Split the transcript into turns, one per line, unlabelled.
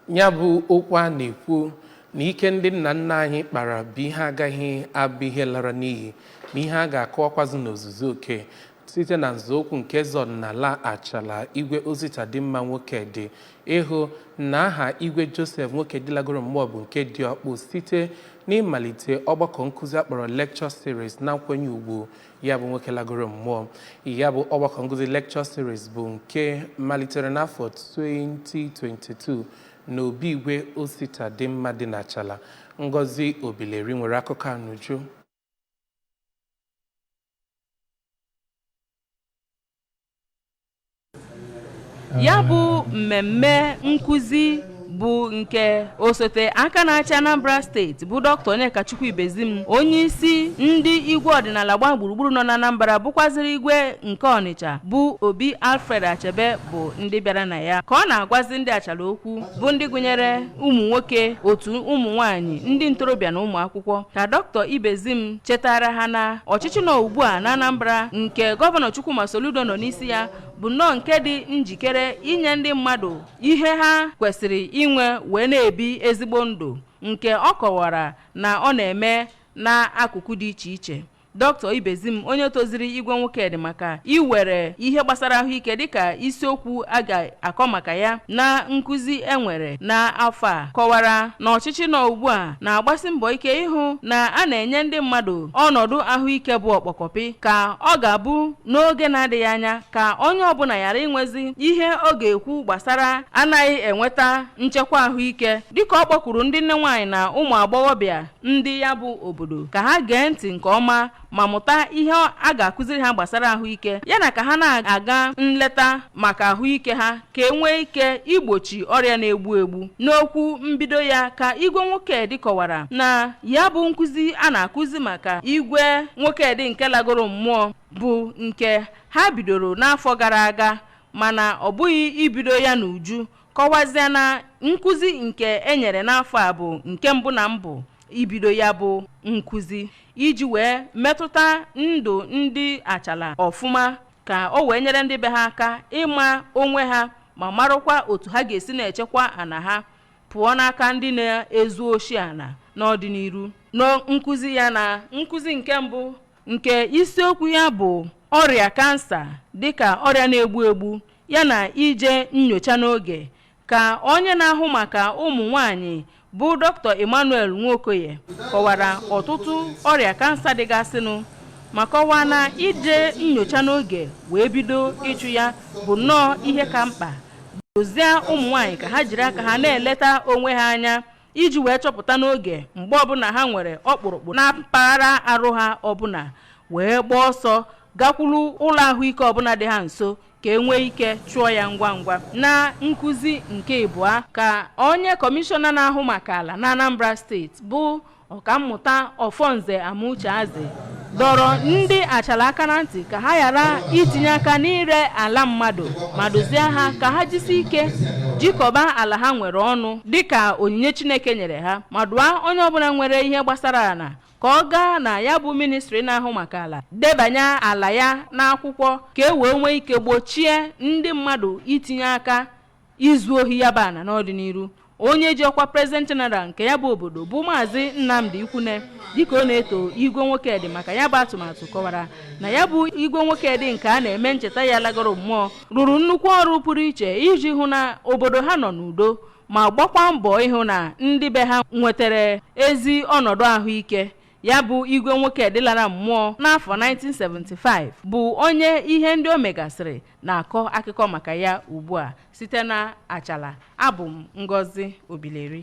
ya bụ okwu a na-ekwu na ike ndị nna nna anyị kpara bụ ihe agaghị abụ ihe lara n'iyi na ihe a ga-akọwakwazi n'ozuzu oke site na nzọụkwụ nke eze ọdịnala achala igwe ositadịmma nwokedi ịhụ na aha igwe joseph nwokedi lagoro mmụọ bụ nke dị ọkpụ site n'ịmalite ọgbakọ nkụzi akpọrọ lecture series na nkwenye ugwu ya bụ nwoke lagoro mmụọ ya bụ ọgbakọ nkụzi lecture series bụ nke malitere n'afọ 2022 na obi igwe ositadịmma dị n'achala ngozi obileri nwere akụkọ a n'uju
ya bụ mmemme nkụzi bụ nke osote aka na-achị anambra steeti bụ doctor onyekachukwu ibezim onye isi ndị igwe ọdịnala gbaa gburugburu nọ n'anambra bụkwaziri igwe nke ọnịcha bụ obi alfred achebe bụ ndị bịara na ya ka ọ na-agwazi ndị achala okwu bụ ndị gụnyere ụmụ nwoke otu ụmụ nwanyị ndị ntorobịa na ụmụ akwụkwọ ka doctor ibezim chetara ha na ọchịchị nọ ugbu a na Anambra nke gọvanọ Chukwuma Soludo nọ n'isi ya bụ nnọọ nke dị njikere inye ndị mmadụ ihe ha kwesịrị inwe wee na-ebi ezigbo ndụ nke ọ kọwara na ọ na-eme n'akụkụ dị iche iche doctor ibezim onye toziri igwe nwokedi maka iwere ihe gbasara ahụike dịka isiokwu a ga-akọ maka ya na nkụzi enwere n'afọ a kọwara na ọchịchị nọ ugbu a na-agbasi mbọ ike ịhụ na a na-enye ndị mmadụ ọnọdụ ahụike bụ ọkpọkọpị ka ọ ga-abụ n'oge na-adịghị anya ka onye ọbụla ghara inwezi ihe ọ ga-ekwu gbasara anaghị enweta nchekwa ahụike dịka ọ kpọkwuru ndị nne nwaanyị na ụmụ agbọghọbịa ndị ya bụ obodo ka ha gee ntị nke ọma ma mụta ihe a ga-akụziri ha gbasara ahụike yana ka ha na-aga nleta maka ahụike ha ka e nwee ike igbochi ọrịa na-egbu egbu n'okwu mbido ya ka igwe nwokedi kọwara na ya bụ nkụzi a na-akụzi maka igwe nwokedi nke lagoro mmụọ bụ nke ha bidoro n'afọ gara aga mana ọ bụghị ibido ya n'uju kọwazịa na nkụzi nke e nyere n'afọ a bụ nke mbụ na mbụ ibido ya bụ nkụzi iji wee metụta ndụ ndị achala ọfụma ka o wee nyere ndị be ha aka ịma onwe ha ma marụkwa otu ha ga-esi na-echekwa ana ha pụọ n'aka ndị na-ezu oshi ana n'ọdịnihu na nkụzi ya na nkụzi nke mbụ nke isiokwu ya bụ ọrịa kansa dịka ọrịa na-egbu egbu yana ije nyocha n'oge Ka onye na-ahụ maka ụmụ nwaanyị bụ Dr. Emmanuel Nwokoye kọwara ọtụtụ ọrịa kansa dịgasịnụ ma kọwaa na ije nyocha n'oge wee bido ịchụ ya bụ nnọọ ihe ka mkpa dozie ụmụ nwaanyị ka ha jiri aka ha na-eleta onwe ha anya iji wee chọpụta n'oge mgbe ọbụla ha nwere ọkpụrụkpụ na mpaghara arụ ha ọbụla wee gbaa ọsọ gakwuru ụlọ ahụike ọbụla dị ha nso ka e nwee ike chụọ ya ngwa ngwa na nkụzi nke ịbụa ka onye kọmishọna na-ahụ maka ala na Anambra steeti bụ ọkammụta Ọfọnze Amucheazi dọrọ ndị Achalla aka na ntị ka ha ghara itinye aka n'ire ala mmadụ ma duzie ha ka ha jisi ike jikọba ala ha nwere ọnụ dịka onyinye Chineke nyere ha ma dụọ onye ọbụla nwere ihe gbasara ala ka ọ gaa na ya bụ ministri na-ahụ maka ala debanye ala ya n'akwụkwọ ka e wee nwee ike gbochie ndị mmadụ itinye aka izu ohi ya bụ ana n'ọdịniru onye ji ọkwa President General nke ya bụ obodo bụ maazị Nnamdi Ikwune dịka ọ na-eto igwe Nwokedi maka ya bụ atụmatụ kọwara na ya bụ igwe Nwokedi nke a na-eme ncheta ya lagoro mmụọ rụrụ nnukwu ọrụ pụrụ iche iji hụ na obodo ha nọ n'udo ma gbakwa mbọ ịhụ na ndị be ha nwetara ezi ọnọdụ ahụike ya bụ igwe Nwokedi lara mmụọ n'afọ 1975 bụ onye ihe ndị o megasịrị na-akọ akụkọ maka ya ugbu a site na Achalla abụ m Ngozi Obileri